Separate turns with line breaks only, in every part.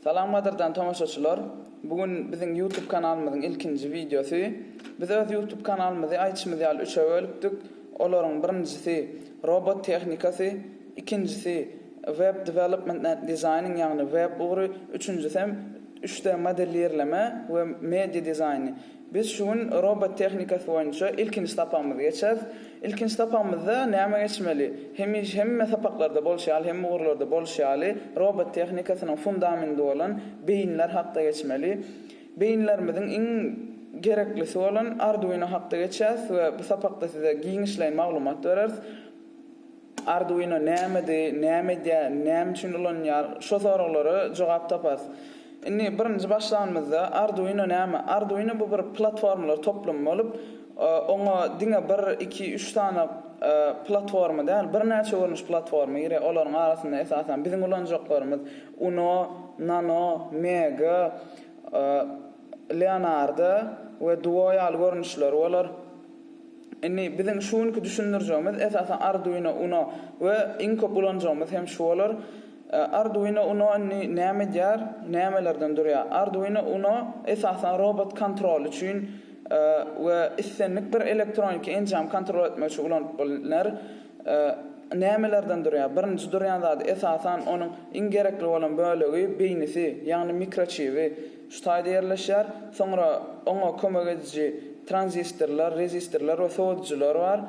Salamladyrdan tomaşaçylar. Bu gün biziň YouTube kanalymyzyň ilkinji wideosy. Biz öz YouTube kanalymyzy aýtşymyz ýaly üçe bölüpdik. Olaryň birinjisi robot tehnikasy, ikinjisi web development and designing ýagny web ugry, üçünjisi hem üç D modelirleme we media dizaýny. Biz şu gün robot tehnikasy boýunça ilkinji sapagymyzy geçeris. Ilkinji sapagymyzda näme geçmeli? Hemiş hemme sapaklarda bolşy ýaly, hemme ugurlarda bolşy ýaly, robot tehnikasynyň fundamendi bolan beýinler hakda geçmeli. Beýinlerimiziň iň gereklisi bolan Arduino hakda geçýäs we bu sapakda size giňişleýin maglumat bereris. Arduino nämedi, näme edýär, näme üçin ulanylýar? Şo soraglara jogap taparys. Indi birinji başlanymyzda Arduino näme? Arduino bu bir platformalar toplumy bolup, oňa diňe bir, iki, üç sany platforma däl, birnäçe görnüş platforma girýär. Olaryň arasynda esasan biziň ulanjaklarymyz Uno, Nano, Mega, Leonardo we Duo ýaly görnüşleri bolar. Indi biziň şu günki düşündirjegimiz esasan Arduino Uno we iň köp ulanjagymyz hem şu bolar. Arduino Uno indi näme edýär, nämelerden durýar? Arduino Uno esasan robot kontrol üçin we islendik bir elektroniki enjamy kontrol etmek üçin ulanyp bilner. Nämelerden durýar? Birinji durýan zady esasan onuň iň gerekli bolan bölegi beýnisi, ýagny mikroçibi. Şu taýda ýerleşýär. Soňra oňa kömek ediji tranzistorlar, rezistorlar we sowadyjylar bar.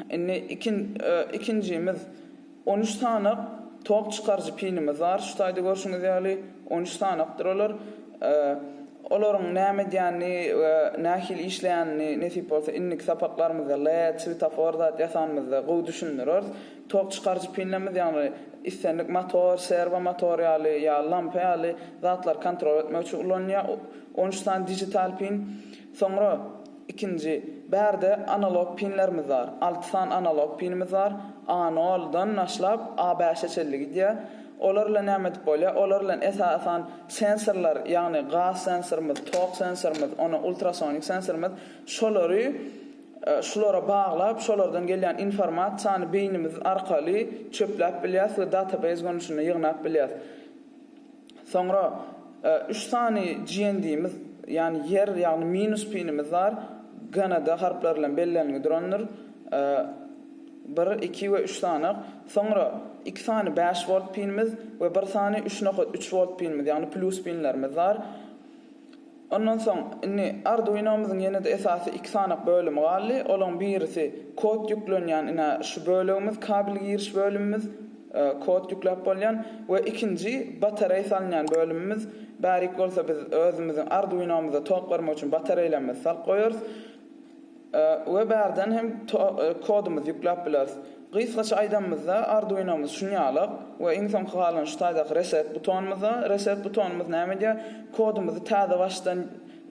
Indi ikin ikinjimiz on üç sanak tok çykaryjy pinimiz bar. Şu taýda görşüňiz ýaly, on üç sanakdyr olar. Olaryň näme edýänini we nähili işleýänini nesip bolsa indiki sapaklarymyzda, led, swetofor zat ýasanymyzda gowy düşündireris. Tok çykaryjy pillerimiz ýagny islendik motor, serwo motor ýaly ýa lampa ýaly zatlary kontrol etmek üçin ulanylýar. On üç sany digital pin. Soňra ikinji bärde analog pinlerimiz bar. Alty sany analog pinimiz bar. A nol dan başlap A bäşe çenli gidýär. Olar bilen näme edip bolýar? Olar bilen esasan sensorlar ýagny gaz sensorymyz, tok sensorymyz, ona ultrasonik sensorymyz şolary Şulara baglap, şolardan gelýän informasiýany beýnimiz arkaly çöpläp bilýäs we database görnüşinde ýygnap bilýäs. Soňra üç sany GND-miz, ýagny ýer, ýagny minus pinimiz bar. GND harplary bilen bellenilgi durandyr. Bir, iki we üç sanak. Soňra iki sany bäş wolt pinimiz we bir sany üç nokat üç wolt pinimiz, ýagny plus pinlerimiz bar. Ondan soň, indi Arduino-myzyň ýene-de esasy iki sany bölümi galdy. Olaryň birisi kod ýüklenýän, ine, şu bölegimiz, kabel giriş bölümimiz, kod ýükläp bolýan we ikinji batareý salynýan bölümimiz. Bärik bolsa biz özümiziň Arduino-myza tok bermek üçin batareýlerimizi salyp goýarys. We bärden hem kodumyzy ýükläp bileris. Gysgaça aýdanymyzda Arduinomyz şunýalak we iň soňky galan şu taýdaky reset butonymyzda. Reset butonymyz näme edýär? Kodumyzy täze başdan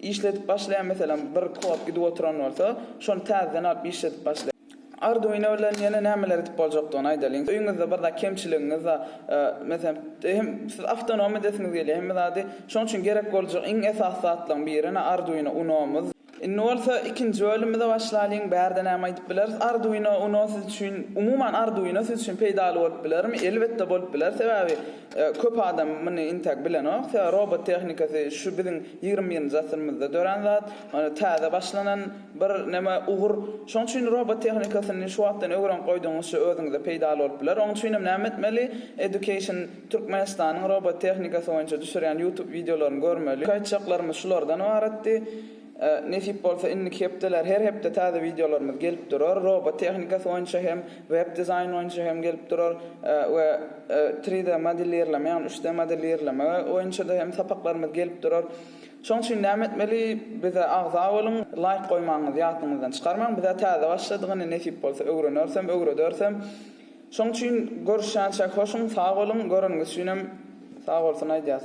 işledip başlaýar, meselem bir kod gidip oturan bolsa, şony täzeden alyp işledip başlaýar. Arduino bilen ýene nämeler edip boljakdygyny aýdalyň. Öýüňizde bir zat kemçiligiňiz bar, meselem hem siz awtonom edesiňiz gelýär hemme zady, şonuň üçin gerek boljak iň esasy zatlaryň biri ene Arduino Unomyz. Indi bolsa ikinji bölümimize başlalyň. Bärde näme aýdyp bileris? Arduino Uno siz üçin, umuman Arduino siz üçin peýdaly bolup bilermi? Elbetde bolup biler. Sebäbi köp adam muny intäk bilenok. Sebäbi robot tehnikasy şu biziň ýigrimi birinji asyrymyzda dörän zat. Täze başlanan bir näme, ugur. Şonuň üçin robot tehnikasyny şu wagtdan öwrenip goýdugyňyzça özüňize peýdaly bolup biler. Onuň üçinem näme etmeli? Education. Türkmenistanyň robotehnikasy boýunça düşürýän YouTube wideolaryny görmeli. Iki aýtjaklarymyz şulardan ybaratdy. Nesip bolsa indiki hepdeler her hepde täze wideolarymyz gelip durar. Robotehnikasy boýunça hem, web dizaýn boýunça hem gelip durar we tri de modelirleme ýagny üç de modelirleme boýunça-da hem sapaklarymyz gelip durar. Şoň üçin näme etmeli? Bize agza boluň, laýk goýmagyňyzy ýadyňyzdan çykarmaň. Bizä täze başladyk indi nesip bolsa öwrenersem, öwredersem. Şoň üçin görüşýänçäk hoşuň sag boluň göreniňiz üçinem sag bolsun aýdýas.